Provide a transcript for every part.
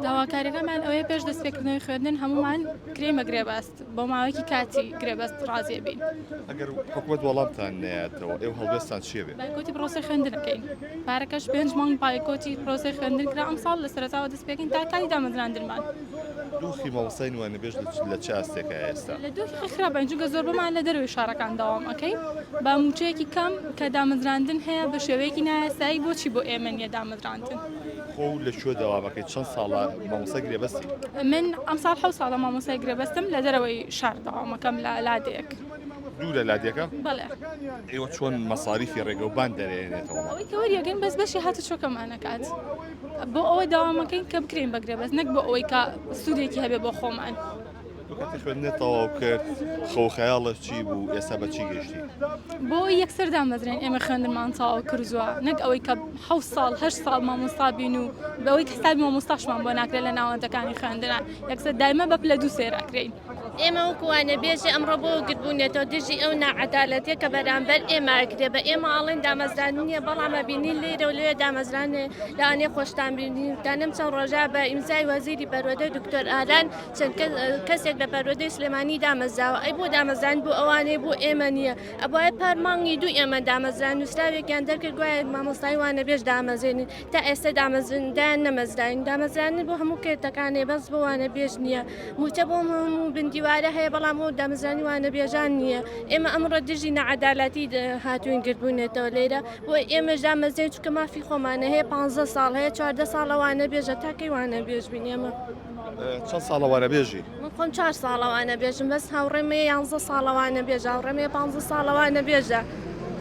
داواکاریەکەمان ئەوەیە پێش دەستپێکردنەوەی خوێندن هەموومان کرێمە گرێبەست بۆ ماوەیەکی کاتی گرێبەست ڕازێ بین ئەگەر حکومت وەڵامتان نەیاتەوە ئێو هەڵبێستان چێ بێ بایکۆتی پرۆسەی خوێندنەکەین پارەکەش پێنج مانگ بایکۆتی پرۆسەی خوێندن کرا ئەم ساڵ لە سەرەتاوە دەست پێکەین تا کاتی دامەزراندنمان دۆخی مامۆستای نوێنە بێژ لە چ ئاستێکە ئێستا لە دۆخی خراپین چونکە زۆربەمان لە دەروی شارەکان داوام ئەەکەین بە موچەیەکی کەم کە دامەزراندن هەیە بە شێوەیەکی نایاسایی بۆچی بۆ ئێمە نیە دامەزراندن خۆ لە کوێ دەوام ئەکەی چەند ساڵە مامۆستای گرێبەستی من ئەمساڵ حەوت ساڵە مامۆستای گرێبەستم لە دەرەوەی شار دەوامەکەم لە لادێک دوورە لادێکە بەڵێ ئێوە چۆن مەساریفی ڕێگە و بان دەرێنێتەوە ئەوەی کە وەریەگەن بەس بەشی هاتە چۆکەمانەکات بۆ ئەوە داوامەکەین کە بکرین بەگرێ بەس نەک بۆ ئەوەی کە سوودێکی هەبێ بۆ خۆمان. وەکاتی خوێندنت تەواو کرد خەو خەیاڵت چی بوو ئێستا بە چی گەشتی بۆ یەکسەر دامەزرێن ئێمە خوێندمان تەواو کردووە نەک ئەوەی کە حە ساڵ هەر ساڵ مامۆستا بین و بەوەی کەسابی مامۆستاشمان بۆ ناکرێت لە ناوەندەکانی خوێندنا یەکسەر دایمە بە پلە دوو سێراکرین ئێمە وکوانە بێژێ ئەمڕۆ بۆ گربوونێتەوە دژی ئەو نەعەدالەتە کە بەرامبەر ئێماکرێ بە ئێمە ئاڵێن دامەزران نییە بەڵامە بینین لێرە و لێ دامەزرانێ لەوانێ خۆشتان بینین تا نەم چەند ڕۆژە بە ئیمزای وەزیری بەرۆدە دکتۆر ئالان چەند کەسێک لە پەروەردەی سلێمانی دامەزراوە ئەی بۆ دامەزراند بۆ ئەوانەی بۆ ئێمە نییە ئەبواە پار مانگی دوو ئێمە دامەزرا نووسراوێکیان دەرکرد گوایە مامۆستای وانە بێژ دامەزێنین تا ئێستا دامەزندیان نەمەزراین دامەزرانی بۆ هەموو کێتەکانێ بەس بۆوانە بێژ نییە موچە بۆ هەموو بندیوارە هەیە بەڵام بۆ دامەزرانی وانە بێژان نییە ئێمە ئەمڕۆ دژی نەعەدالاتی هاتوین گردبوونێتەوە لێرە بۆ ئێمەش دامەزرێن چکە مافی خۆمانە هەیە پ ساڵ هەیە چواردە ساڵەوانە بێژە تاکەی وانە بێژ بین ئێمە. چەند ساڵە وانەبێژی؟ من خۆم چوار ساڵە وانەبێژم، بەس هاوڕێم هەیە یانزە ساڵە وانەبێژە، هاوڕێم هەیە پانزە ساڵە وانەبێژە.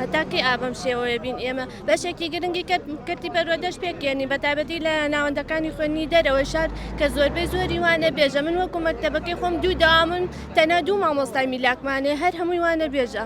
هەتا کەی ئا بەم شێوەیە بین ئێمە؟ بەشێکی گرنگی کەرت کەرتی پەروەردەش پێکێنی بە تایبەتی لە ناوەندەکانی خوێندنی دەرەوەی شار کە زۆربەی زۆری وانەبێژە. من وەکوو مەکتەبەکەی خۆم دوو دەوامن، تەنیا دوو مامۆستای میلاکمان هەیە هەر هەمووی وانەبێژە.